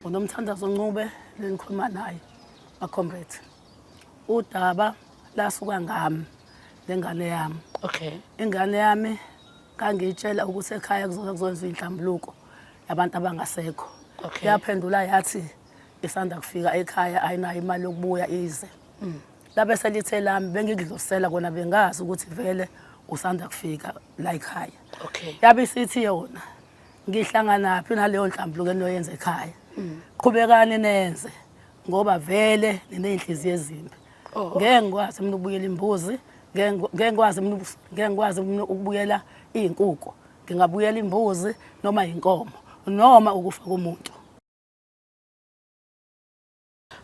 unomthandazo ncube lenikhuluma naye macombret udaba lasuka ngami lengane yami okay ingane yami ngangiyitshela ukuthi ekhaya kuzoke kuzokwenziwa inhlambuluko yabantu abangasekho okay. yaphendula yathi isanda kufika ekhaya ayinayo imali yokubuya ize mm. labe selithe lami bengidlosela kona bengazi ukuthi vele usanda kufika la ekhaya okay. yabe isithi yona ngihlanganaphi naleyo nhlambuluko enoyenza ekhaya mm. qhubekani nenze ngoba vele niney'nhliziyo ezimbi oh. ngeke ngikwazi mina ukubuyela imbuzi ngeke ngikwazi mina ngeke ngikwazi mina ukubuyela iy'nkuku ngingabuyela imbuzi noma yinkomo noma ukufa komuntu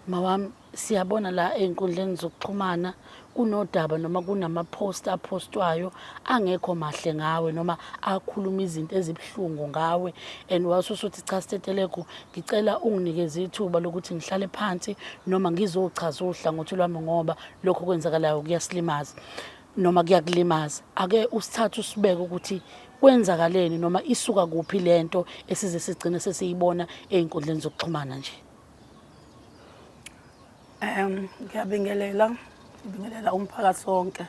Mawami siyabona la ey'nkundleni zokuxhumana kunodaba noma kunama-post aphostwayo angekho mahle ngawe noma akhuluma izinto ezibuhlungu ngawe and wase usuthi cha Stetelegu ngicela unginikeze ithuba lokuthi ngihlale phansi noma ngizochaza uhlangothi lwami ngoba lokho kwenzakalayo kuyasilimaza noma kuyakulimaza ake usithathe usibeke ukuthi kwenzakaleni noma isuka kuphi le nto esize sigcine sesiyibona ey'nkundleni zokuxhumana nje. Um ngiyabingelela ngibingelela umphakathi wonke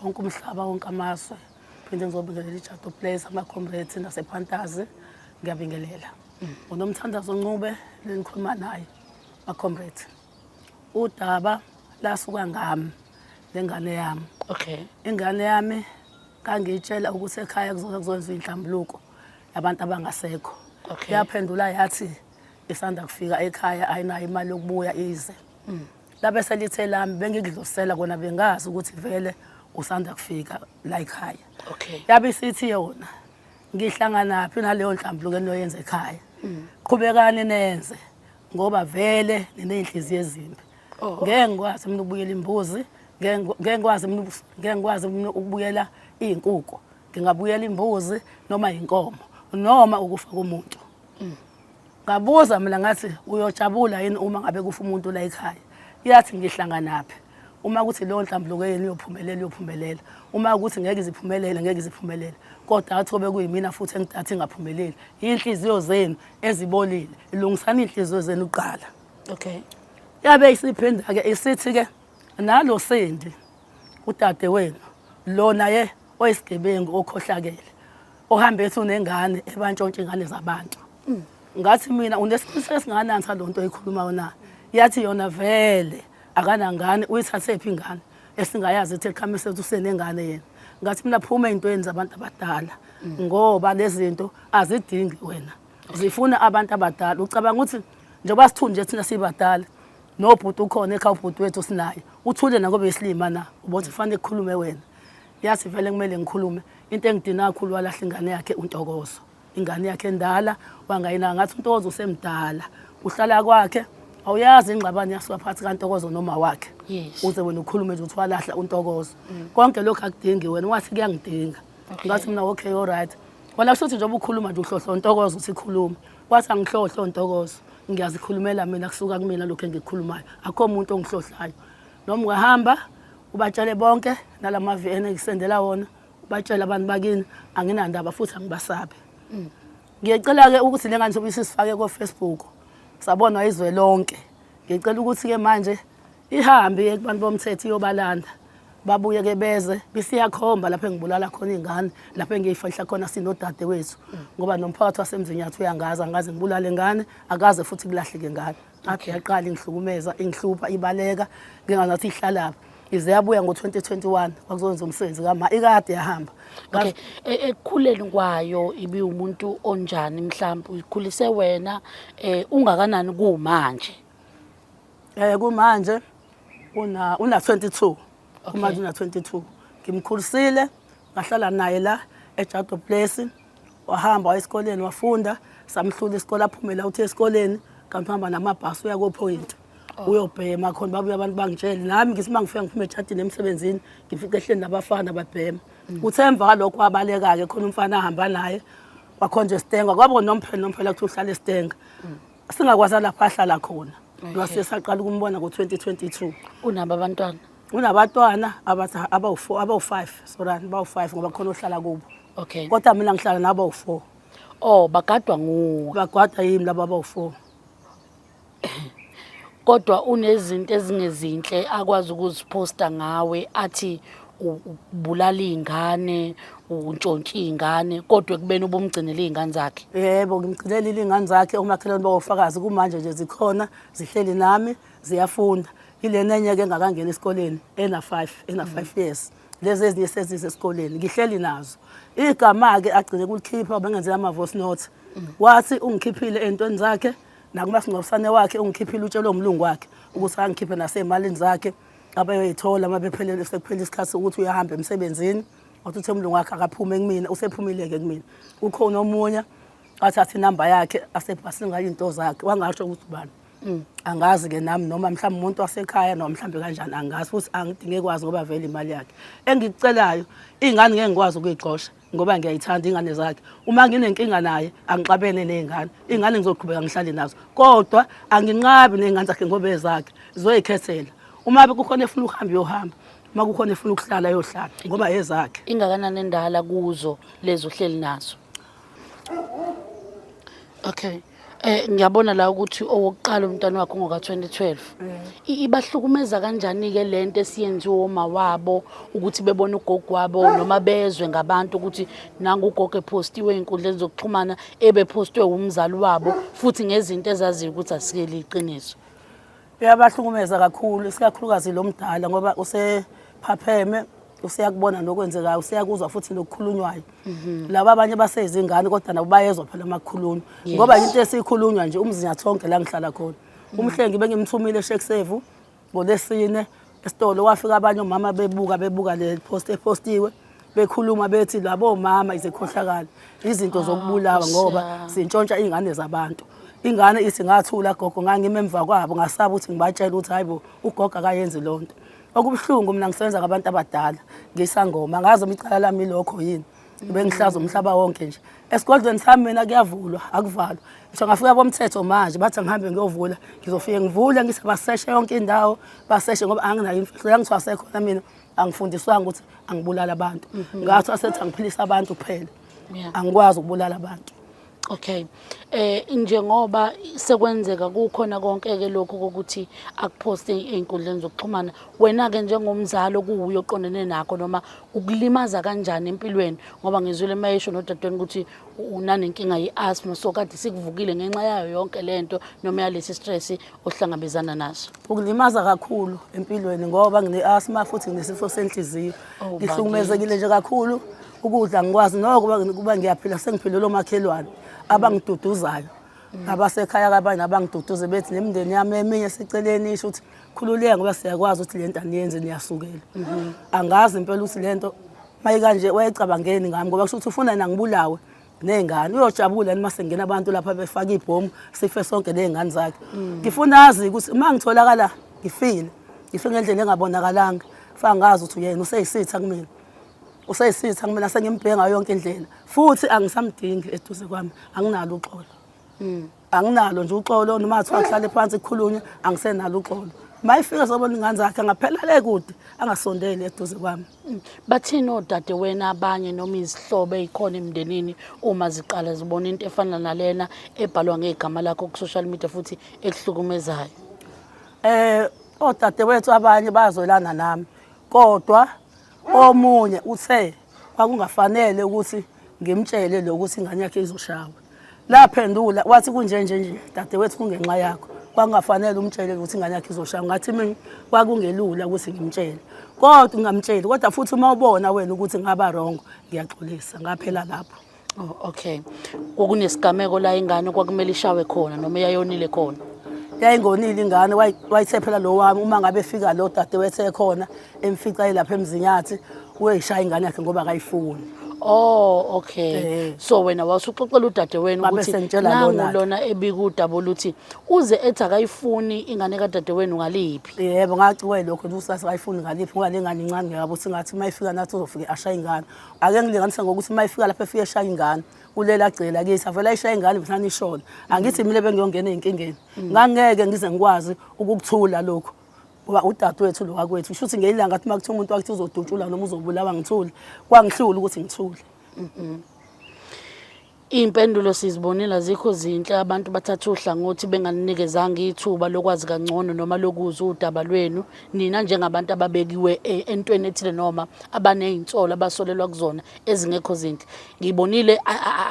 wonke umhlaba wonke amazwe phinde ngizobingelela ijato place amacomrade nasephantazi ngiyabingelela mm. ngunomthandazo ncube lenikhuluma naye macomrade udaba lasuka ngami nengane yami okay ingane yami kangiyitshela ukuthi ekhaya kuzokwenziwa inhlambuluko yabantu abangasekho yaphendula yathi isanda kufika ekhaya ayinayo imali yokubuya ize mm. labe selithe lami bengikudlosela kona bengazi ukuthi vele usanda kufika la ekhaya okay yabe isithi yona ngihlangana phi naleyo nhlambuluko enoyenza ekhaya mm. qhubekani nenze ngoba vele nineyinhliziyo ezimbi oh, oh. ngeke ngikwazi mina ukubuyela imbuzi ngeke ngikwazi mina ngeke ngikwazi mina ukubuyela izinkukhu ngingabuyela imbuzi noma inkomo noma ukufa komuntu mm. ngabuza mina ngathi uyojabula yini uma ngabe kufa umuntu la ekhaya yathi ngihlanganaphi uma kuthi leyo nhlambuluko yenu iyophumelela iyophumelela uma ukuthi ngeke iziphumelele ngeke iziphumelele kodwa athi obe kuyimina futhi engidathi ingaphumeleli iy'nhliziyo zenu ezibolile ilungisani iy'nhliziyo zenu kuqala okay yabe isiphinde-ke isithi-ke nalo sendi udadewenu lo naye oyisigebengu okhohlakele ohambe ethi unengane ebantshontsha ingane zabantu mm. ngathi mina unesiqiniseko esinganani salo nto oyikhulumayo na yathi yona vele akanangane uyithathephi ingane esingayazi ethi eqhame sethu usenengane yena ngathi mina phuma ey'ntweni zabantu abadala mm. ngoba lezi zinto azidingi wena zifuna abantu abadala ucabanga ukuthi njengoba sithunje thina sibadala No bhuti ukhona ekhaya ubhuti wethu sinaye. Uthule nako besilima na. Ubona kufanele kukhulume wena. Yazi vele kumele ngikhulume. Into engidina kakhulu walahla ingane yakhe uNtokozo. Ingane yakhe endala wangayina ngathi uNtokozo usemdala. Uhlala kwakhe awuyazi ingxabano yasuka phakathi kaNtokozo noma wakhe. Yes. Uze wena ukhulume nje ukuthi walahla uNtokozo. Konke lokho akudingi wena wathi kuyangidinga. Okay. Ngathi mina okay all right. Wena kushuthi njengoba ukhuluma nje uhlohlo uNtokozo uthi khuluma. Wathi angihlohlo ntokozo ngiyazikhulumela mina kusuka kumina lokho engikukhulumayo akho muntu ongihlohlayo noma ungahamba ubatshele bonke nalamavi ene ngisendela wona ubatshele abantu bakini anginandaba futhi angibasabi mm. ngiyecela ke ukuthi le ngane sobe isifake ko Facebook sabonwa izwe lonke ngicela ukuthi ke manje ihambe iye kubantu bomthetho iyobalanda babuye ke beze bisiyakhomba lapho engibulala khona iy'ngane lapho engiyifahla khona sinodade wethu ngoba nomphakathi wasemzinyathi uyangazi angazi ngibulale ngane akaze futhi kulahleke ngane akhe yaqala ingihlukumeza ingihlupha ibaleka ngingazathi ihlalapha ize yabuya ngo-2021 kwakuzowenza umsebenzi kama ikade yahamba okay e, ekukhuleni kwayo ibiwumuntu onjani mhlawumbe uyikhulise wena um ungakanani kuwumanje Eh kumanje una una 22. Kumanje una 22. Ngimkhulisile ngahlala naye la eJado Place. Wahamba waya esikoleni wafunda samhlula isikole aphumela uthi esikoleni kanti uhamba namabhasi uya koPoint. Oh. Uyobhema khona babuya abantu bangitshele nami ngisima ngifika ngiphume eJadini emsebenzini ngifice ehleni nabafana babhema. Mm. Kuthe emva kwalokho wabaleka ke khona umfana ahamba naye wakhonje Stenga kwabo nomphelo nomphelo ukuthi uhlale Stenga. Mm. singakwazi lapho ahlala khona wase saqala ukumbona ngo-2022 unabo abantwana unabatwana abawu-four abawu-five sorani bawu-five ngoba khona ohlala kubo okay kodwa mina ngihlala nabo abawu-four oh bagadwa nguwe bagadwa yimi laba abawu-four kodwa unezinto ezingezinhle akwazi ukuziphosta ngawe athi ubulala iy'ngane untshontshe iy'ngane kodwa ekubeni ubumgcinele iy'ngane zakhe yebo ngimgcinelile iy'ngane zakhe omakhelwane bawofakazi kumanje nje zikhona zihleli nami ziyafunda yilena enye-ke engakangeni esikoleni ena-five ena-five mm. years lezi ezinye sezize esikoleni ngihleli nazo igama-ke agcine kulikhipha bengenzela ama-voice note mm. wathi ungikhiphile ey'ntweni zakhe nakumasingcwabisane wakhe ungikhiphile utshelwe umlungu wakhe ukuthi angikhiphe nasey'malini zakhe mm. abayoyithola uma bephelele sekuphele isikhathi sokuthi uyahamba emsebenzini wathi uthe umlungu wakhe akaphume kumina usephumile-ke kumina ukhona omunye athathe inamba yakhe asebhasini ngayo into zakhe wangasho ukuthi ubani mm, angazi-ke nami noma mhlawumbe umuntu wasekhaya noma mhlawumbe kanjani angazi futhi angidinge kwazi ngoba vele imali yakhe engikucelayo iy'ngane ngeke ngikwazi ukuyigxosha ngoba ngiyayithanda ingane zakhe uma nginenkinga naye angixabene nezingane ingane ngizoqhubeka ngihlale nazo kodwa anginqabi nezingane zakhe ngoba ezakhe zoyikhethela uma kukhona efuna ukuhamba uyohamba uma kukhona efuna ukuhlala yohlala ngoba ezakhe ingakanani endala kuzo lezo hleli nazo okay Eh ngiyabona la ukuthi owokuqala umntana wakho ngoka 2012. I- Ibahlukumeza kanjani ke lento esiyenziwe oma wabo ukuthi bebone ugogo wabo noma bezwe ngabantu ukuthi nangu ugogo epostiwe inkundleni zokuxhumana ebe postwe umzali wabo futhi ngezinto ezaziyo ukuthi asikeli iqiniso. Uyabahlukumeza kakhulu isikakhulukazi lo mdala ngoba usephapheme useyakubona nokwenzekayo useyakuzwa futhi nokukhulunywayo mhm. laba abanye baseyizingane kodwa nabo bayezwa phela amakhulunywa ngoba into esiyikhulunywa nje umzinyathonke la ngihlala khona mhm. umhlengi bengimthumile eshekisevu ngolesine esitolo wafika abanye omama bebuka bebuka le post epostiwe bekhuluma bethi labo mama izekhohlakala izinto ah, zokubulawa ngoba sintshontsha izingane zabantu ingane ithi ngathula gogo ngangime emva kwabo ngasaba ukuthi ngibatshela ukuthi hayibo ugogo akayenzi lonto okubuhlungu mina ngisebenza ngabantu abadala ngisangoma ngazi umicala lami lokho yini bengihlaza umhlaba wonke nje esigodlweni sami mina kuyavulwa akuvalwa ngisho ngafika komthetho manje bathi ngihambe ngiyovula ngizofike ngivule ngise baseshe yonke indawo baseshe ngoba anginayo imfihlo yangithiwa sekhona mina angifundiswanga ukuthi angibulala abantu mhm. ngathi asethi angiphilisa abantu kuphela angikwazi ukubulala abantu Okay. Eh njengoba sekwenzeka kukhona konke ke lokho kokuthi akuposte einkundleni zokuxhumana wena ke njengomzali okuwuyo oqondene nakho noma ukulimaza kanjani empilweni ngoba ngizwile mayesho nodadweni ukuthi unanenkinga yeasthma so kade sikuvukile ngenxa yayo yonke lento noma yalesi stress ohlangabezana nazo ukulimaza kakhulu empilweni ngoba ngine-asma futhi nginesifo senhliziyo oh, ngihlukumezekile nje kakhulu ukudla ngikwazi noko kuba ngiyaphila sengiphilele omakhelwane abangiduduzayo mm. abasekhaya kabanye abangiduduze bethi nemndeni yami eminye seceleni isho ukuthi khululeka ngoba siyakwazi ukuthi le nto aniyenze niyasukela mm-hmm. angazi impela ukuthi le nto mayikanje wayecabangeni ngami ngoba kusho ukuthi ufuna nangibulawe ney'ngane uyojabula yini uma sengena abantu lapha befake ibhomu sife sonke ney'ngane zakhe mm. ngifuna azi ukuthi uma ngitholakala ngifile ngife ngendlela engabonakalanga fa ngazi ukuthi uyena useyisitha kumina useyisitha kumina sengimbhenga yonke indlela futhi angisamdingi eduze kwami anginalo uxolo mm. anginalo nje uxolo noma ngathiwa kuhlale phansi kukhulunywe angisenalo uxolo mayifika sobona ingane zakhe angaphela le kude angasondeli eduze kwami mm. bathini odade wena abanye noma izihlobo ezikhona emndenini uma ziqala zibona into efana nalena ebhalwa ngegama lakho ku social media futhi ekuhlukumezayo eh odade wethu abanye bazolana nami kodwa omunye uthe kwakungafanele ukuthi ngimtshele lokho ukuthi ingane yakhe izoshawa laphendula wathi kunjenje nje dadewethu kungenxa yakho kwakungafanele umtshele ukuthi ingane yakhe izoshawa ngathi mina kwakungelula ukuthi ngimtshele kodwa ungamtsheli kodwa futhi uma ubona wena ukuthi ngaba wrong ngiyaxolisa ngaphela lapho Oh, okay. Kwakunesigameko la ingane kwakumele ishawe khona noma yayonile khona. yayingonile ingane wayi- wayisephela lo wami uma ngabe efika lo dade wesekhona emfica elapha emzinyathi uyishaya ingane yakhe ngoba akayifuni Oh, okay. Eh. So wena wasuxoxela udadewenu Babe ukuthi sengitshela nangu lona-ke. lona ebikudaba oluthi uze ethi akayifuni ingane kadadewenu ngaliphi. yebo ngaciwe lokho ukuthi usase akayifuni ngaliphi ngoba le ngane incane ngiyabo singathi uma ifika nathi uzofike ashaye ingane ake ngilinganise ngokuthi uma ifika lapho efike eshaya ingane ulela agcela kithi avele ayishaya ingane bethani ishona angithi mina bengiyongena ezinkingeni ngangeke ngize ngikwazi ukukuthula lokho ngoba udadewethu lo wakwethu shuthi ngelanga athi makuthiwa umuntu wakuthi uzodutshula noma uzobulawa ngithule kwangihlula ukuthi ngithule Iy'mpendulo sizibonile azikho zinhle abantu bathatha uhlangothi benganinikezanga ithuba lokwazi kangcono noma lokuzwa udaba lwenu nina njengabantu ababekiwe e, entweni ethile noma abaney'nsolo abasolelwa kuzona ezingekho zinhle ngiyibonile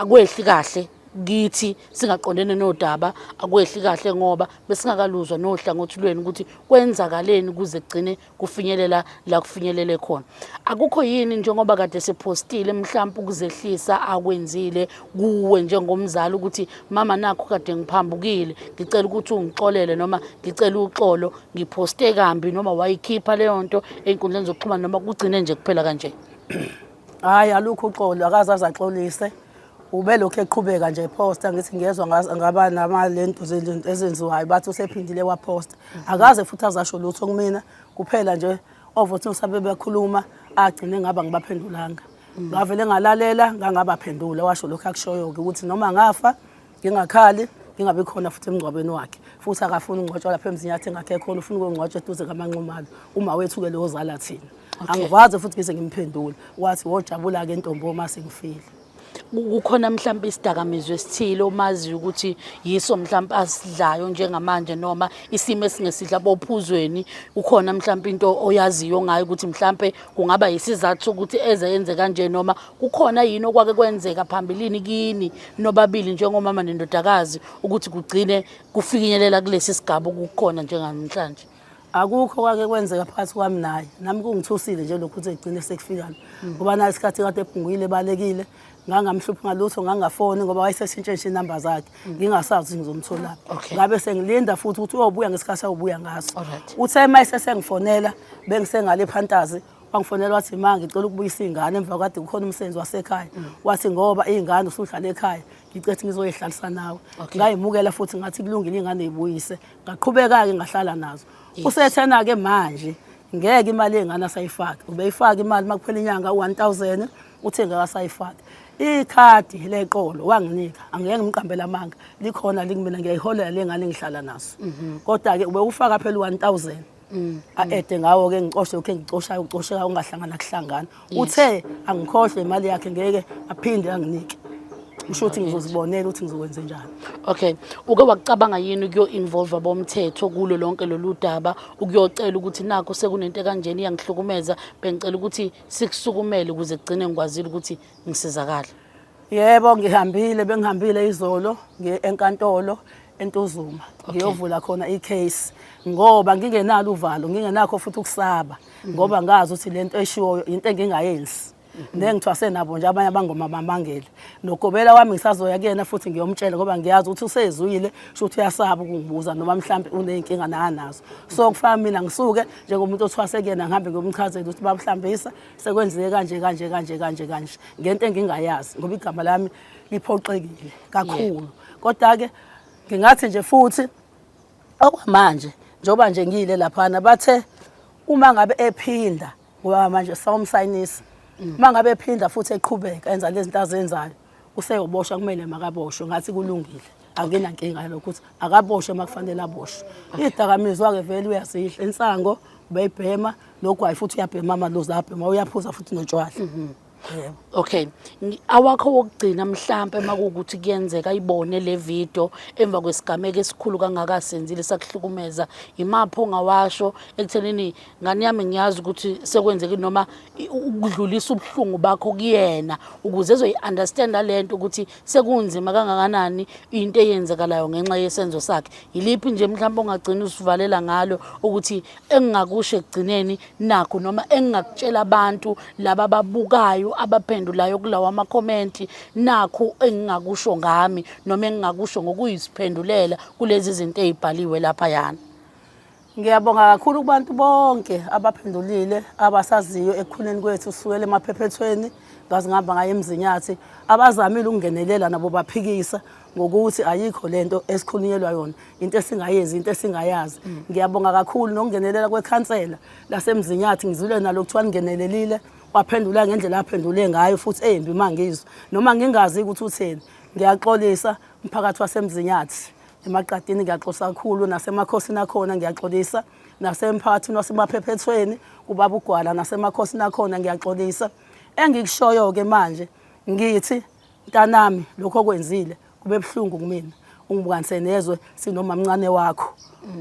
akwehli kahle kithi singaqondene nodaba akwehli kahle ngoba besingakaluzwa nohlangothi lwenu ukuthi kwenzakaleni kuze kugcine kufinyelela la kufinyelele khona akukho yini njengoba kade sephostile mhlawumbe ukuzehlisa akwenzile kuwe njengomzali ukuthi mama nakho kade ngiphambukile ngicela ukuthi ungixolele noma ngicela uxolo ngiphoste kambi noma wayikhipha leyo nto ey'nkundleni zokuxhumana noma kugcine nje kuphela kanje hhayi alukho uxolo akaze azaxolise ube lokhu eqhubeka nje ephosta ngithi ngiyezwa ngaba namalentu ezenziwayo bathi usephindile waphosta akaze futhi azasho lutho kumina kuphela nje ovothi ngisabe bekhuluma agcine ngaba ngibaphendulanga ngavele ngalalela ngangabaphendula washo lokho akushoyo-ke ukuthi noma ngafa ngingakhali ngingabi khona futhi emngcwabeni wakhe futhi akafuni ungcwatshwa lapha emzinyathi engakhe khona ufuna ukungcwatshwa eduze kamanxumalo uma wethu-ke lowozala thina angikwazi futhi ngize ngimphendule wathi wojabula-ke ntombi uma sengifile kukhona mhlawumbe isidakamizwa esithile omaziyo ukuthi yiso mhlawumbe asidlayo njengamanje noma isimo esingesidla bophuzweni ukhona mhlawumbe into oyaziyo ngayo ukuthi mhlawumbe kungaba yisizathu sokuthi eze yenze kanje noma kukhona yini okwake kwenzeka phambilini kini nobabili njengomama nendodakazi ukuthi kugcine kufikinyelela kulesi sigaba okukhona njengamhlanje akukho kwake kwenzeka phakathi kwami naye nami kungithusile nje lokhu ukuthi egcine sekufikana mm. ngoba naye isikhathi kade ebhunguyile ebalekile ngangamhluphi ngalutho ngangafoni ngoba wayeseshintshe nje inamba zakhe mm. ngingasazi ukuthi ngizomtholaphi ngabe sengilinda futhi ukuthi uyobuya ngesikhathi awubuya ngaso uthe uma esesengifonela bengisengale ephantazi wangifonela wathi ma ngicela ukubuyisa iy'ngane emva kade kukhona umsebenzi wasekhaya mm. wathi ngoba iy'ngane usuhlala ekhaya ngicethi ngizoyihlalisa nawe ngayimukela futhi ngathi kulungile iy'ngane yibuyise ngaqhubeka-ke ngahlala nazo usethena-ke manje ngeke imali yengane asayifaki ubeyifaka imali uma kuphela inyanga u-one thousand uthe ngeke asayifaki ikhadi leqolo wanginika angeke ngimqambela amanga likhona likumina ngiyayiholela le ngane engihlala naso mhm. kodwa-ke ubewufaka phela u-one thousand Mm, a-ede mm. ngawo-ke ngicoshe ukhe ngicoshayo ucosheka ungahlangana kuhlangana uthe angikhohlwe imali yakhe ngeke aphinde anginike usho ukuthi ngizozibonela ukuthi ngizokwenze njani okay uke wakucabanga yini ukuyo-involva bomthetho kulo lonke lolu daba ukuyocela ukuthi nakho sekunento ekanjena iyangihlukumeza bengicela ukuthi sikusukumele ukuze kugcine ngikwazile ukuthi ngisizakale Yebo ngihambile bengihambile izolo ngiye enkantolo eNtuzuma ngiyovula khona i-case ngoba ngingenalo uvalo ngingenakho futhi ukusaba ngoba ngazi ukuthi lento eshiwoyo into engingayenzi nengithwase nabo nje abanye abangoma bamangele nogobela wami ngisazoya kuyena futhi ngiyomtshela ngoba ngiyazi ukuthi usezwile sho ukuthi uyasaba ukungibuza noma mhlawumbe uney'nkinga nakanazo so kufana mina ngisuke njengomuntu othwase kuyena ngihambe ngiyomchazela ukuthi babuhlambisa sekwenzeke kanje kanje kanje kanje kanje ngento engingayazi ngoba igama lami liphoxekile kakhulu kodwa-ke ngingathi nje futhi okwamanje njengoba nje ngiyile laphana bathe uma ngabe ephinda ngoba manje sawumsayinisa uma ngabe ephinda futhi eqhubeka enza lezi zinto azenzayo useyoboshwa kumele makaboshwe ngathi kulungile anginankinga lokho ukuthi akaboshwe uma kufanele aboshwe idakamizwa-ke vele uyazidla insango ubeyibhema nogwayi futhi uyabhema amaluzi abhema uyaphuza futhi notshwala mhm. Okay. Awakho wokugcina mhlambe uma kuukuthi kuyenzeka ibone le video emva kwesigameko esikhulu kangaka senzile sakuhlukumeza imapho ngawasho ekuthenini ngane yami ngiyazi ukuthi sekwenzeki noma ukudlulisa ubuhlungu bakho kuyena ukuze ezoyi-understanda le nto ukuthi sekunzima kangakanani into eyenzekalayo ngenxa yesenzo sakhe yiliphi nje mhlawumbe ongagcina usivalela ngalo ukuthi engingakusho ekugcineni nakho noma engingakutshela abantu laba ababukayo abaphendulayo kulawo amakhomenti nakho engingakusho ngami noma engingakusho ngokuyisiphendulela kulezi zinto ey'bhaliwe laphayana Ngiyabonga kakhulu kubantu bonke abaphendulile abasaziyo ekukhuleni kwethu sukela emaphephethweni ngaze ngihamba ngayo emzinyathi abazamile ukungenelela nabo baphikisa ngokuthi ayikho lento esikhulunyelwa yona into esingayenzi into esingayazi mm. ngiyabonga kakhulu nokungenelela kwekhansela lasemzinyathi ngizule nalo kuthiwa lingenelelile waphendula ngendlela aphendule ngayo futhi eyimbi mangizwe noma ngingazi ukuthi utheni ngiyaxolisa umphakathi wasemzinyathi emaqadini ngiyaxosa kakhulu nasemakhosini akhona ngiyaxolisa nasemphakathini wasemaphephethweni kubaba ugwala nasemakhosini akhona ngiyaxolisa engikushoyo-ke manje ngithi mntanami lokho okwenzile kube buhlungu kumina ungibukanise nezwe sinomamncane wakho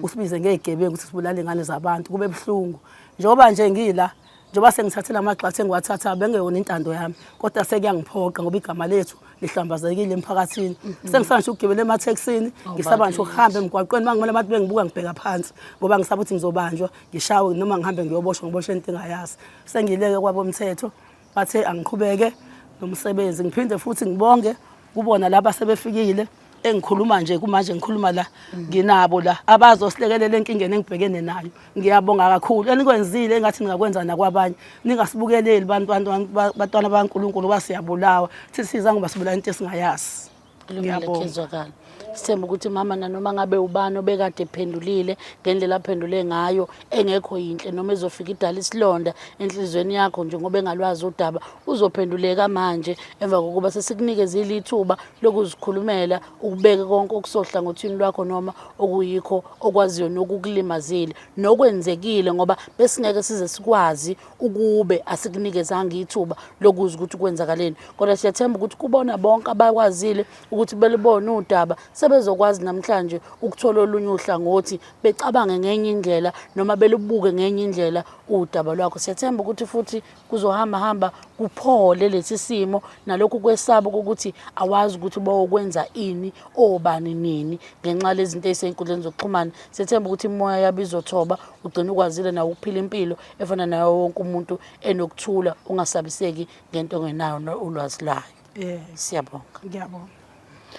usibize ngey'gebengu ukuthi sibulale iy'ngane zabantu kube buhlungu njengoba nje ngila njengoba sengithathe la magxathu engiwathathayo bengeyona intando yami kodwa sekuyangiphoqa ngoba igama lethu lihlambazekile emphakathini mm-hmm. sengisaba ngisho ukugibela emathekisini oh, ngisaba ngisho ukuhamba emgwaqweni uma ngibona abantu bengibuka ngibheka phansi ngoba ngisaba ukuthi ngizobanjwa ngishawe noma ngihambe ngiyoboshwa ngiboshwe into engayazi sengiyileke kwabomthetho bathe angiqhubeke nomsebenzi ngiphinde futhi ngibonge kubona laba sebefikile engikhuluma nje kumanje ngikhuluma la nginabo la abazosilekelela enkingeni engibhekene nayo ngiyabonga kakhulu enikwenzile engathi ningakwenza nakwabanye ningasibukeleli bantwana bankulunkulu uba siyabulawa thithi siza ngoba sibulawa into esingayazi ngiyabonga sithemba ukuthi mama nanoma ngabe ubani obekade ephendulile ngendlela aphendule ngayo engekho yinhle noma ezofika idala isilonda enhliziyweni yakho njengoba engalwazi udaba uzophenduleka manje emva kokuba sesikunikeze ilithuba lokuzikhulumela ukubeke konke okusohlangothini lwakho noma okuyikho okwaziyo nokukulimazile nokwenzekile ngoba besingeke size sikwazi ukube asikunikezanga ithuba lokuza ukuthi kwenzakaleni kodwa siyathemba ukuthi kubona bonke abakwazile ukuthi belibone udaba sebezokwazi namhlanje ukuthola olunye uhlangothi becabange ngenye indlela noma belubuke ngenye indlela udaba lwakho siyathemba ukuthi futhi kuzohamba hamba kuphole lesi simo nalokhu kwesaba ukuthi awazi ukuthi bawokwenza ini obani nini ngenxa lezinto ezisenkundleni zokuxhumana sethemba ukuthi imoya yabo izothoba ugcina ukwazile nawo ukuphila impilo efana nayo wonke umuntu enokuthula ungasabiseki ngento ongenayo ulwazi layo Yes. Siyabonga. Ngiyabonga.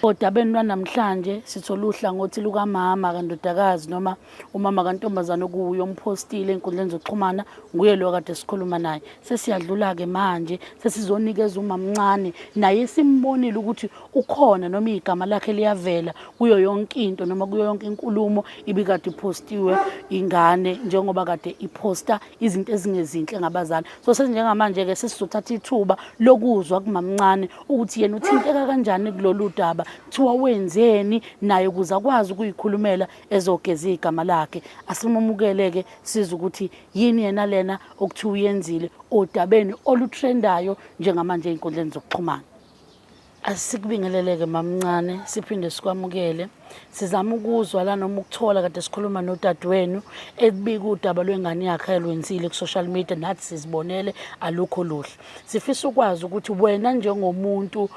Odabeni lwanamhlanje sithola uhlangothi lukamama kandodakazi noma umama kantombazane okuwuye omphostile enkundleni zokuxhumana nguye lo kade sikhuluma naye sesiyadlula-ke manje sesizonikeza umamncane naye simbonile ukuthi ukhona noma igama lakhe liyavela kuyo yonke into noma kuyo yonke inkulumo ibikade iphostiwe ingane njengoba kade iphosta izinto ezingezinhle ngabazali so senjengamanje ke sesizothatha ithuba lokuzwa kumamncane ukuthi yena uthinteka kanjani kulolu daba kuthiwa wenzeni naye ukuze akwazi ukuyikhulumela ezogeza igama lakhe asimamukele ke siza ukuthi yini yena lena okuthiwa uyenzile odabeni olutrendayo njengamanje einkundleni zokuxhumana Asikubingeleleke mamncane siphinde sikwamukele. Sizama ukuzwa la noma ukuthola kade sikhuluma nodadewenu ebika udaba lwengane yakhe ayilwenzile ku-social media nathi sizibonele alukho luhle. Sifisa ukwazi ukuthi wena njengomuntu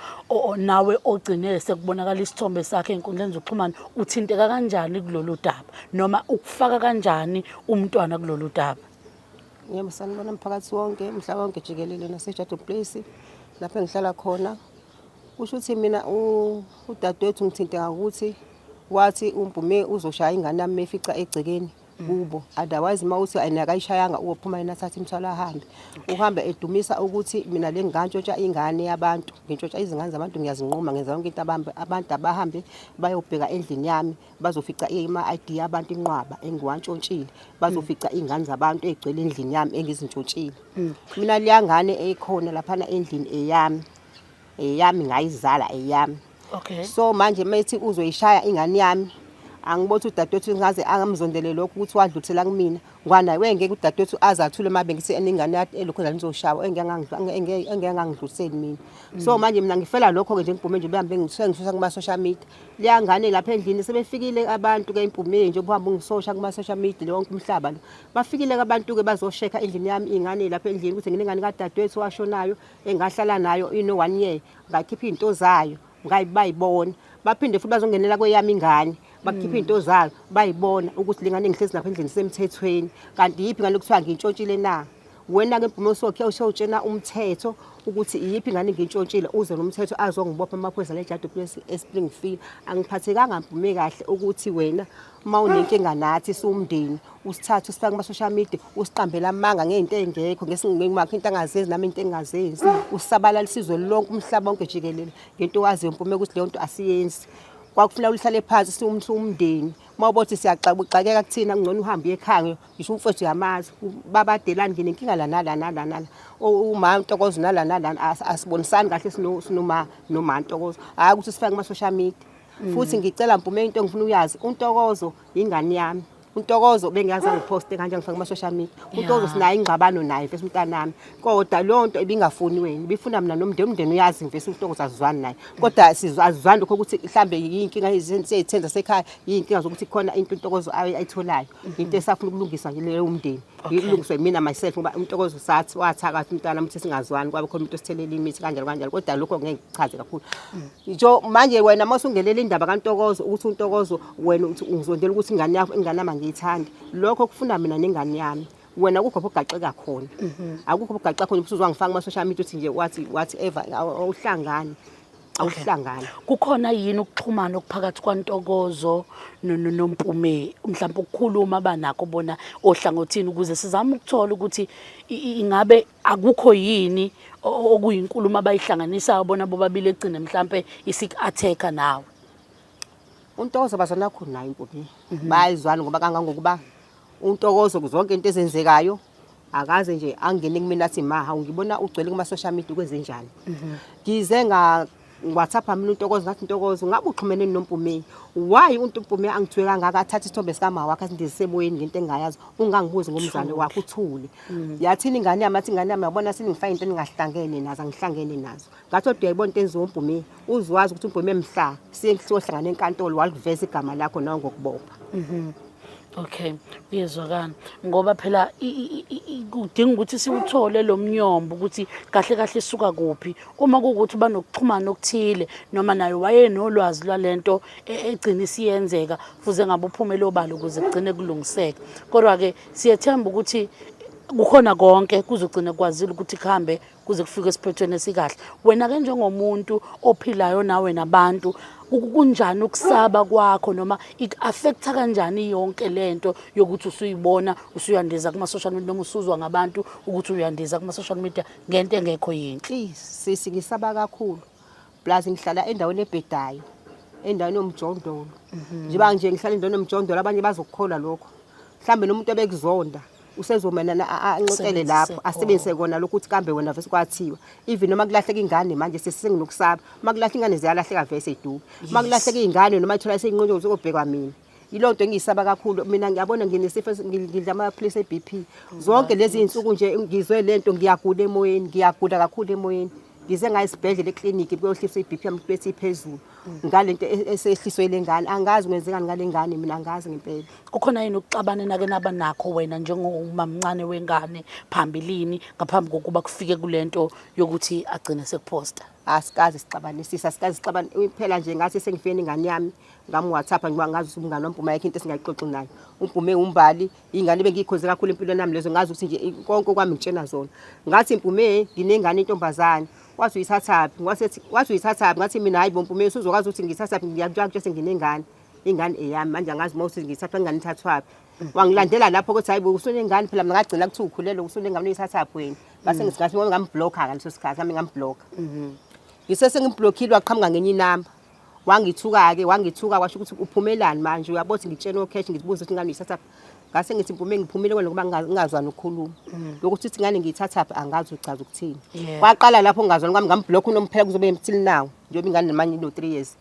nawe ogcine sekubonakala isithombe sakhe enkundleni zokuxhumana uthinteka kanjani kulolu daba noma ukufaka kanjani umntwana kulolu daba? Yebo sanibona mphakathi wonke mhla wonke jikelele naseJadu Place lapho engihlala khona. Kusho ukuthi mina udadewethu ngithinte ngakuthi wathi uMpume uzoshaya ingane yami mefica egcekeni kubo otherwise uma uthi ayina akayishayanga uyophuma yena athathe imthwalo ahambe uhamba edumisa ukuthi mina le ngantshotsha ingane yabantu ngintshontsha izingane zabantu ngiyazinquma ngenza yonke into abantu abahambe bayobheka endlini yami bazofica ama-ID abantu inqwaba engiwantshontshile bazofica mm. iy'ngane zabantu ey'gcwele endlini yami engizintshontshile mm. mina leya ngane eyikhona laphana endlini eyami eyami ngayizala eyami okay so manje methi uzoyishaya ingane yami angibotha udadewethu ngaze angamzondele lokho ukuthi wadlulisela kumina Ngwana we ngeke udadewethu aze athule uma bengithi eningane yati elokhu la nizoshawa engengangidluliseli mina so mm. manje mina ngifela lokho-ke nje ngibhume nje behambe ngisusa kuma-social media liyangane lapha endlini sebefikile abantu-ke impumile nje ubuhambe ungisosha kuma-social media lonke umhlaba lo bafikile-ke abantu-ke bazoshekha endlini yami iy'ngane lapha endlini ukuthi nginengane kadadewethu washonayo engahlala nayo ino-one year ngakhipha iy'nto zayo ngayi bayibona baphinde futhi bazongenela kweyami ingane bakhiphe hmm. into zalo bayibona ukuthi lengane ngihlezi lapha endlini semthethweni kanti yipi ngale kuthiwa ngintshontshile na wena ke Bhumo Sokhe ushawutshena umthetho ukuthi iyiphi ngane ngintshontshile uze nomthetho azongibopha amaphoyisa lejadu place eSpringfield angiphathekanga ngiphume kahle ukuthi wena uma unenkinga nathi siwumndeni usithathe usifake kuma-social media usiqambela amanga ngey'nto ey'ngekho ngesingemakho into angazenzi nami into engingazenzi usabalala isizwe lonke umhlaba wonke jikelele ngento owaziyo mpumeka ukuthi leyo nto asiyenzi kwakufuneka ulihlale phansi siwumndeni uma ubothi siyaxabuxakeka kuthina kungcono uhambe uyekhaya ngisho umfowethu uyamazi babadelani nginenkinga lana lana lana uma ntokozo nalana lana asibonisani kahle sinoma noma ntokozo hhayi ukuthi sifake kuma-social media Mm. futhi ngicela mpume into engifuna uyazi untokozo yingane yami untokozo bengiyazi angiphoste kanjani ngifake kuma-social media untokozo sinayo ingxabano naye mfesi umntanami kodwa leyo nto ibingafuni wena ibifuna mina nomndeni umndeni uyazi mfesi untokozo azizwani naye kodwa azizwani lokho ukuthi mhlawumbe yiyinkinga seyithenza sekhaya yiyinkinga zokuthi khona into untokozo ayitholayo mm-hmm. into esafuna ukulungisa leyo umndeni ilungiswe mina myself ngoba untokozo sathi wathakathi umntana ukuthi singazwani kwabe khona umuntu osithelele imithi kanjalo kanjalo kodwa lokho ngeke kuchaze kakhulu mm. Ngisho manje wena uma usungenela indaba kaNtokozo ukuthi uNtokozo wena uthi ungizondela ukuthi ingane yakho ingane yami angiyithandi. Lokho kufuna mina nengane yami. Wena akukho lapho ogaxeka khona. Akukho lapho ogaxeka khona ukuthi uzwangifaka kuma-social media uthi nje wathi whatever awu- awuhlangani. Awuhlangani. kukhona yini ukuxhumana okuphakathi kwantokozo no- no- nompume mhlawumbe ukukhuluma abanakho bona ohlangothini ukuze sizame ukuthola ukuthi i- i- ingabe akukho yini okuyinkulumo abayihlanganisayo bona bobabili egcine mhlampe isik-attack-a nawe untokozo bazanakho naye impume mhm. bayizwana ngoba kangangokuba untokozo kuzonke into ezenzekayo akaze nje angene kumina athi maha ngibona ugcwele kuma social media kwenze njani mhm. ngize nga WhatsApp mina uNtokozo ngathi Ntokozo ngabe uxhumene noMpumeyi why uNtupumeyi angithiwe kangaka athathe isithombe sikama wakhe asindisemoyeni ngento engayazi ungangibuzi ngomzali wakhe uthule mm. yathini ingane yami athi ingane yami yabona sini ngifake into engingahlangene nazo angihlangene nazo ngathi kodwa yayibona into enziwa uMpumeyi uzwazi ukuthi uMpumeyi mhla siye siyohlangana enkantolo waliveza igama lakho nawe ngokubopha mhm. Okay, uyezwakana ngoba phela kudinga ukuthi siwuthole lo mnyombo ukuthi kahle kahle suka kuphi uma kuwukuthi uba nokuxhumana okuthile noma naye wayenolwazi lwale nto e-, egcina isiyenzeka fuze ngabe uphume lobala ukuze kugcine kulungiseka kodwa-ke siyethemba ukuthi kukhona konke kuzogcina kwazile ukuthi kuhambe kuze kufike esiphethweni esikahle wena-ke njengomuntu ophilayo nawe nabantu kunjani ukusaba kwakho noma iku-affektha kanjani yonke le nto yokuthi usuyibona usuyandiza kuma-social media noma usuzwa ngabantu ukuthi uyandiza kuma-social media ngento engekho yini please sisi ngisaba kakhulu plus ngihlala endaweni ebhedayo endaweni yomjondolo mhm. njengoba nje ngihlala endaweni yomjondolo abanye bazokukholwa lokho mhlawumbe nomuntu obekuzonda usezomelana anxoxele lapho asebenzise kona lokhu ukuthi kambe wena vese kwathiwa even noma kulahleka ingane manje sesinginokusaba uma kulahla ingane ziyalahleka vese iduka uma kulahleka ingane noma ithola seyinqotshwe ukuthi kobhekwa mina yiloo nto engiyisaba kakhulu mina ngiyabona nginesifo ngidla amaphilisi e-bp zonke lezi iy'nsuku nje ngizwe le nto ngiyagula emoyeni ngiyagula kakhulu emoyeni ngize ngaye esibhedlela ekliniki kuyohlisa i-bp yami bethi iphezulu ngale nto e-, esehliswe le ngane angazi kwenzekani ngale ngane mina angazi ngempela kukhona yini ukuxabana enake naba nakho wena njengomamncane wengane phambilini ngaphambi kokuba kufike kule nto yokuthi agcine sekuphosta asikazi sixabanisisa asikazi sixabana phela nje ngathi sengifeni ingane yami ngamwhatsapp ngiba ngazi ukuthi umngane wambhuma yakhe into esingayixoxi nayo umbhume umbali ingane bengiyikhonze kakhulu empilweni yami lezo ngazi ukuthi nje konke okwami ngitshena zona ngathi mbhume nginengane intombazane wathi uyithathaphi wasethi wathi uyithathaphi ngathi mina hayi bompume usuzokwazi ukuthi ngithathaphi ngiyakutshela ukuthi senginengane ingane eyami manje angazi uma uthi ngithathwa ingane ithathwaphi wangilandela lapho ukuthi hayi usunengane phela mina ngagcina kuthi ukhulelwe usunengane uyithathaphi wena base mm. ngisingathi ngambhlokha ngaleso sikhathi nami ngambhlokha mm-hmm. ngisese ngimblokhile waqhamuka ngenye inamba wangithuka-ke wangithuka kwasho ukuthi uphumelani manje uyabothi ngitshene okheshi ngizibuze ukuthi ingane uyithathaphi ngase ngithi mpume ngiphumile kwena ngoba ngingazwani ukukhuluma mm. lokuthi uthi ingane ngiyithathaphi angazi uchaza ukuthini kwaqala lapho ngingazwani kwami ngambhlokha unomphela kuzobe emthili nawo njengoba ingane nemanye ino-three years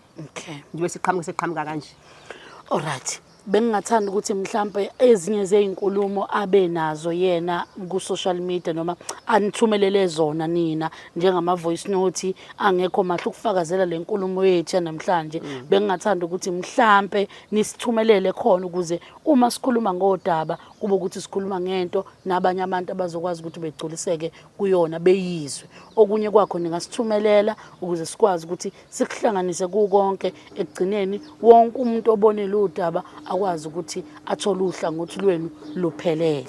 ngibe siqhamuke seqhamuka kanje olright bengingathanda ukuthi mhlampe ezinye zezinkulumo abe nazo yena ku social media noma anithumelele zona nina njengama voice note angekho mahle ukufakazela lenkulumo yethu namhlanje mm. bengingathanda ukuthi mhlampe nisithumelele khona ukuze uma sikhuluma ngodaba kube ukuthi sikhuluma ngento nabanye abantu abazokwazi ukuthi begculiseke kuyona beyizwe okunye kwakho ningasithumelela ukuze sikwazi ukuthi sikuhlanganise kukonke ekugcineni wonke umuntu obonele udaba akwazi ukuthi athole uhlangothi lwenu luphelele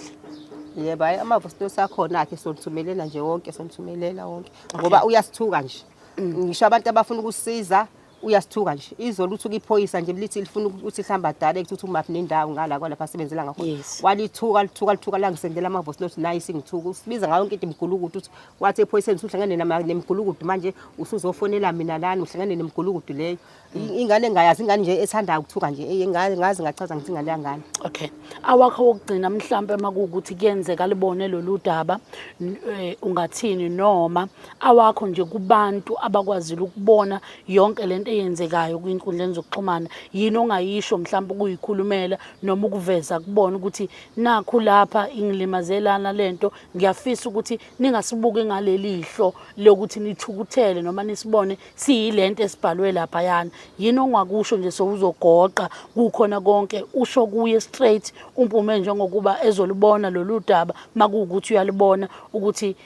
yebo hayi amava sito sakhona-ke solithumelela nje wonke solithumelela wonke ngoba uyasithuka nje mm. ngisho abantu abafuna ukusiza uyasithuka nje izolo uthuka iphoyisa nje lithi lifuna ukuthi lihamba dala ekuthi umaphi nendawo ngala kwalapha sebenzela ngakho walithuka lithuka lithuka langisendela amavosi lothi nayi singithuka usibiza ngayo yonke into imgulukudu ukuthi wathi ephoyiseni usuhlangane nama- nemigulukudu manje usuzofonela mina lani uhlangane nemigulukudu leyo I- ingane engayazi ingane nje ethanda ukuthuka nje eye, nga- ngazi ngachaza ngithi ingane yangane okay awakho wokugcina mhlampe uma kuwukuthi kuyenzeka libone lolu daba n- eh, ungathini noma awakho nje kubantu abakwazile ukubona yonke le nto eyenzekayo kwinkundleni zokuxhumana yini ongayisho mhlawumbe ukuyikhulumela noma ukuveza kubona ukuthi nakhu lapha ingilimazelana le nto ngiyafisa ukuthi ningasibuki ngaleli hlo lokuthi nithukuthele noma nisibone siyilento esibhalwe lapha yana yini ongakusho nje sowuzogoqa kukhona konke usho kuye straight umpume njengokuba ezolibona lolu daba makuwukuthi uyalibona ukuthi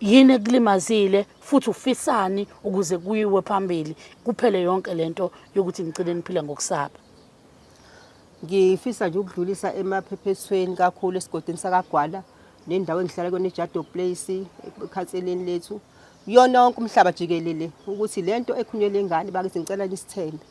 yini ekulimazile futhi ufisani ukuze kuyiwe phambili kuphele yonke lento yokuthi ngicine niphila ngokusaba Ngifisa nje ukudlulisa emaphephethweni kakhulu esigodini sakaGwala nendawo engihlala kuyona iJado Place ekhatseleni lethu yona wonke umhlaba jikelele ukuthi lento ekhunyelwe ingane bakithi ngicela nisithembe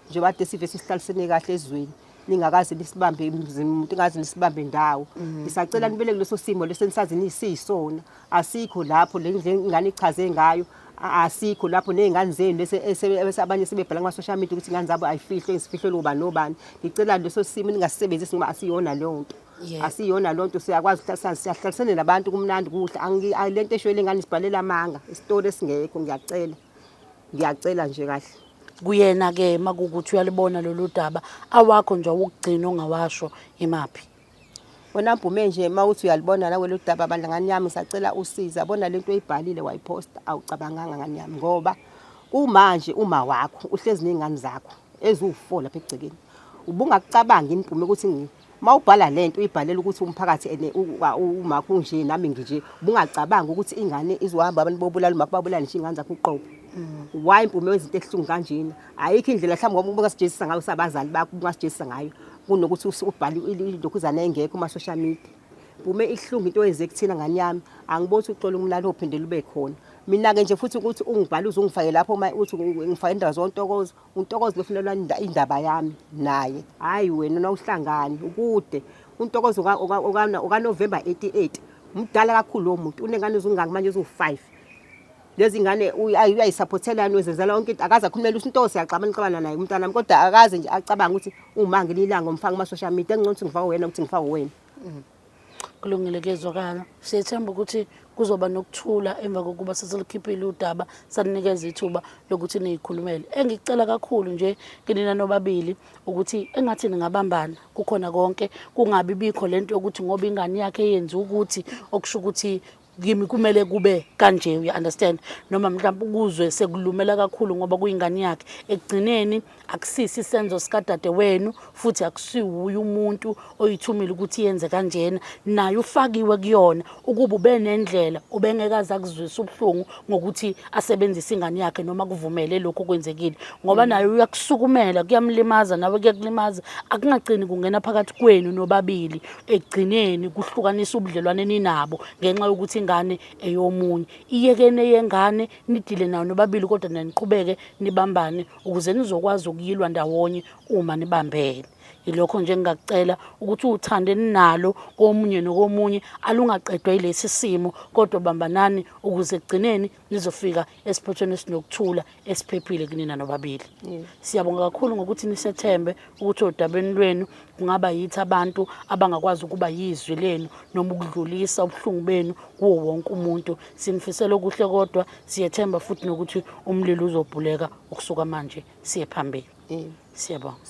nje bade sive sisihlalisene kahle ezweni ningakaze nisibambe umuntu ingaze nisibambe ndawo mm. ngisacela nibele kuleso simo lesenisazi nisiyisona asikho lapho le ndlela ingane ichaze ngayo asikho lapho nezingane zenu bese abanye sebebhala kuma social media ukuthi ingane zabo ayifihlwe isifihlwe loba nobani ngicela leso simo ningasisebenzisi ngoba asiyona leyo nto asiyona loo nto siyakwazi siyahlalisene nabantu kumnandi kuhle le nto eshoyele ngane sibhalela amanga isitori esingekho ngiyacela ngiyacela nje kahle kuyena-ke makukuthi uyalibona lolu daba awakho nje awukugcina ongawasho imaphi wena bhume nje uma uthi uyalibona nawe lolu daba bandla ngani yami ngisacela usiza bona lento oyibhalile wayiphosta awucabanganga ngani yami ngoba kumanje uma wakho uhlezi nezingane zakho eziwu-4 lapha egcekeni ubungakucabanga yini bhume ukuthi uma ubhala le nto uyibhalela ukuthi umphakathi and umakho unje nami nginje ubungacabanga ukuthi ingane izohamba abantu bobulala umakho babulale nje iy'ngane zakho uqobo mm. why mpume wezinto ehlungu kanjena ayikho indlela mhlawumbe ngoba ubungasijezisa ngayo sabazali bakho ubungasijezisa ngayo kunokuthi ubhale ilokhuzana engekho kuma-social media bume ihlungu into oyenze kuthina ngane yami angiboni ukuthi uxola umlalo ophinde lube khona mina-ke nje futhi ukuthi ungibhale uze ungifake lapho uma uthi ngifake indawo zontokozo untokozo lofunelwa indaba yami naye hhayi wena nawuhlangani ukude untokozo okanovemba 88 mdala kakhulu lowo muntu unengane zingaki manje eziwu-five lezi ngane uyayisaphothela nizenzela yonke into akaze akhulumele usinto siyaxabana xabana naye umntwana wami kodwa akaze nje acabanga ukuthi uma ngililanga umfaka kuma social media engcono ukuthi ngifaka wena ukuthi ngifaka wena mm. kulungile kuyezwakala siyethemba ukuthi kuzoba nokuthula emva kokuba sesilikhiphile udaba saninikeza ithuba lokuthi niyikhulumele engicela kakhulu nje kinina nobabili ukuthi engathi ningabambana kukhona konke kungabi bikho lento yokuthi ngoba ingane yakhe yenza ukuthi okusho ukuthi kimi kumele kube kanje uya understand noma mhlawumbe ukuzwe sekulumela kakhulu ngoba kuyingane yakhe ekugcineni akusisi isenzo sikadade wenu futhi akusiwuye umuntu oyithumile ukuthi yenze kanjena naye ufakiwe kuyona ukuba ube nendlela ubengekaze akuzwisa ubuhlungu ngokuthi asebenzise ingane yakhe noma kuvumele lokho kwenzekile ngoba mm. naye uyakusukumela kuyamlimaza nawe kuyakulimaza akungagcini kungena phakathi kwenu nobabili ekugcineni kuhlukanisa ubudlelwane ninabo ngenxa yokuthi ingane eyomunye iyekene yengane nidile nayo nobabili kodwa naniqhubeke nibambane ukuze nizokwazi ukuyilwa ndawonye uma nibambene yilokho nje engingakucela ukuthi uthande ninalo komunye nokomunye alungaqedwa yilesi simo kodwa bambanani ukuze ekugcineni nizofika esiphothweni esinokuthula esiphephile kunina nobabili yes. siyabonga kakhulu ngokuthi nisethembe ukuthi odabeni lwenu kungaba yithi abantu abangakwazi ukuba yizwi lenu noma ukudlulisa ubuhlungu benu kuwo wonke umuntu sinifisela okuhle kodwa siyethemba futhi nokuthi umlilo uzobhuleka ukusuka manje siye phambili yes. siyabonga